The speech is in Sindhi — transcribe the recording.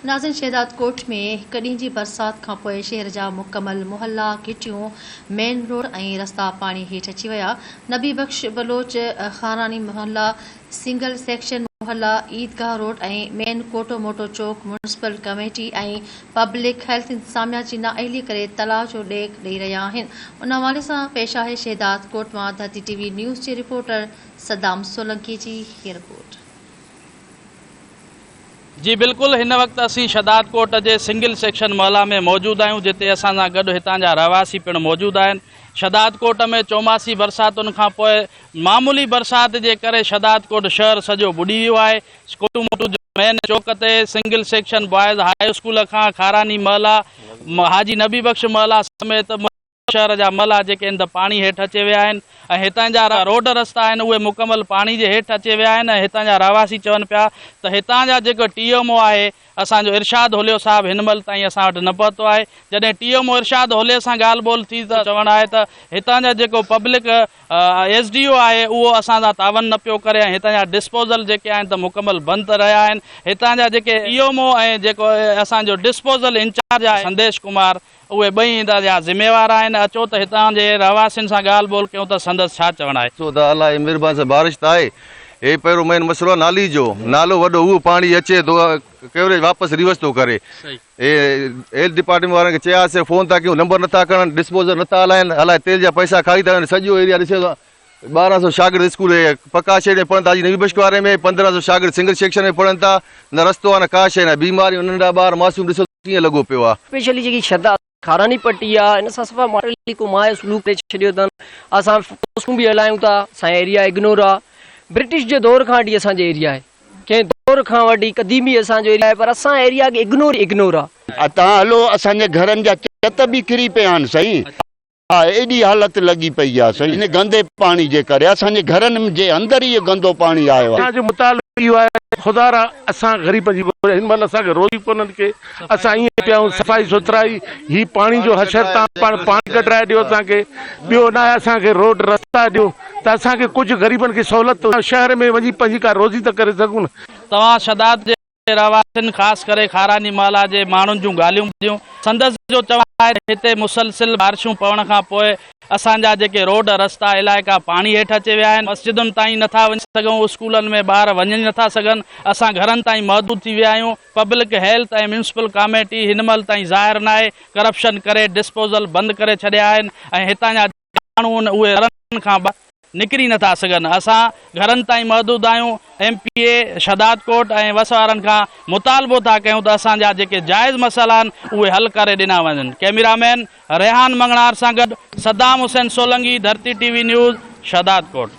ناظرين شهداد ڪوٽ ۾ هڪ ڏينهن جي برسات کانپوء شهر جا مڪمل محلا، گهٽيون، مين روڊ ۽ رستا پاڻي هيٺ اچي ويا، نبي بخش بلوچ خانراڻي محلا، سنگل سيڪشن محلا، عيدگاهه روڊ ۽ مين ڪوٽو موٽو چوڪ ميونسپل ڪميٽي ۽ پبلڪ هيلٿ انتظاميا جي نااهلي ڪري تلاء جو ڏيک ڏئي رهيا آهن ان حوالي سان پيش آهي شهداد ڪوٽ مان ڌرتي ٽي وي نيوز جي رپورٽر صدام سولنڪي جي هي رپورٽ. جي بلڪل هن وقت اسين شھدادڪوٽ جي سنگل سيڪشن محلا ۾ موجود آهيون جتي اسان سان گڏ هتان جا رهواسي پڻ موجود آهن شھدادڪوٽ ۾ چوماسي برساتن کان پوء معمولي برسات جي ڪري شھدادڪوٽ شهر سڄو ٻڏي ويو آهي اسڪولون موجود مين چوڪ تي single section boys high school کان کاراني محلا حاجي نبي بخش محلا سميت شهر جا ملهه جيڪي انڌ پاڻي هيٺ اچي ويا آهن ۽ هتان جا روڊ رستا آهن اهي مڪمل پاڻي جي هيٺ اچي ويا آهن ۽ هتان جا رهواسي چون پيا ته هتان جا جيڪو ٽي ايم او آهي اسان جو ارشاد هوليو صاحب هن مهل تائين اسان وٽ نه پهتو آهي جڏهن ٽي ايم او ارشاد هولي سان ڳالهه ٻولهه ٿي ته چوڻ آهي ته هتان جا جيڪو پبلڪ ايس ڊي او آهي اهو اسان سان تعاون نه پيو ڪري ۽ هتان جا ڊسپوزل جيڪي آهن ته مڪمل بند رهيا آهن هتان جا جيڪي ٽي ايم او ۽ جيڪو اسان جو ڊسپوزل انچارج آهي سنديش ڪمار اهي ٻئي ايندا جا ذميوار آهن، اچو ته هتان جي رهواسين سان ڳالهه ٻولهه ڪيون ته سندس ڇا چوڻ آهي. ڏسو ته الله جي مهرباني سان بارش ته آهي. هي پهريون مين مسئلو آهي نالي جو. نالو وڏو اهو پاڻي اچي ٿو ڪوريج واپس ريورس ٿو ڪري. هي هيلٿ ڊپارٽمينٽ وارن کي چياسين فون ٿا ڪيون نمبر نٿا کڻن ڊسپوزل نٿا هلائين الائي تيل جا پئسا کائي ٿا وڃن سڄو ايريا ڏسيو ته ٻارهن سو شاگرد اسڪول هي پڪا شيڊ ۾ پڙهن ٿا اڄ نوي بشڪ واري ۾ پندرهن سو شاگرد سنگل سيڪشن ۾ پڙهن ٿا نه رستو آهي نه ڪا شيء نه بيماريون ننڍا ٻار معصوم ڏسو ڪيئن لڳو پيو آ. اسپيشلي جيڪي شھدا خاراني پٽي آ ان سان صفا ماڻھن ھڪ مائع سلوڪ ڪري ڇڏيو اٿن اسان پوسٽون به ھلايون ٿا اسان ايريا اگنور آ برٽش جي دور کان وٺي اسان جو ايريا آھي ڪنھن دور کان وٺي قديمي اسان جو ايريا آھي پر اسان ايريا اگنور اگنور آ. اتان ھلو اسان جي گھرن جا چت به ڪري پيا آھن سائين. آء ايڏي حالت لڳي پئي آ سائين ان گندي پاڻي جي ڪري اسان جي گهرن جي اندر ئي گندو پاڻي آيو آ. اسان جو مطالبو اهو آهي ته خدا را اسان غريبن جي گهر هن مهل اسان کي روئي ڪونهن ڪي اسان ائين پيا آهيون صفائي سٿرائي هي پاڻي جو حشر تان پاڻ پاڻي ڪڍرائي ڏيو اسان کي ٻيو ناهي اسان کي روڊ رستا ڏيو ته اسان کي ڪجهه غريبن کي سهولت شهر ۾ وڃي پنهنجي ڪا روزي ته ڪري سگهون. توهان شهداد جي رهواسين خاص ڪري خاراني محلا جي ماڻهن جون ڳالهيون ٻڌيون. سندس جو چوڻ آهي ته هتي مسلسل بارشون پوڻ کان پوء اسان جا جيڪي روڊ، رستا، علائقا پاڻي هيٺ اچي ويا آهن، مسجدن تائين نه ٿا وڃي سگهون، اسڪولن ۾ ٻار وڃي نه ٿا سگهن، اسان گهرن تائين محدود ٿي ويا آهيون، پبلڪ هيلٿ ۽ ميونسپل ڪاميٽي هن مهل تائين ظاهر ناهي، ڪرپشن ڪري ڊسپوزل بند ڪري ڇڏيا آهن ۽ هتان جا. ماڻهو ان اهي گهرن کان ٻاهر نڪري نه ٿا سگهن، اسان گهرن تائين محدود آهيون، ايم پي اي شهدادڪوٽ ۽ وس وارن کان مطالبو ٿا ڪيون ته اسان جا جيڪي جائز مسئلا آهن اهي حل ڪري ڏنا وڃن ڪئميرا مين ريحان مڱڻهار سان گڏ صدام حسين سولنگي ڌرتي ٽي وي نيوز شهدادڪوٽ.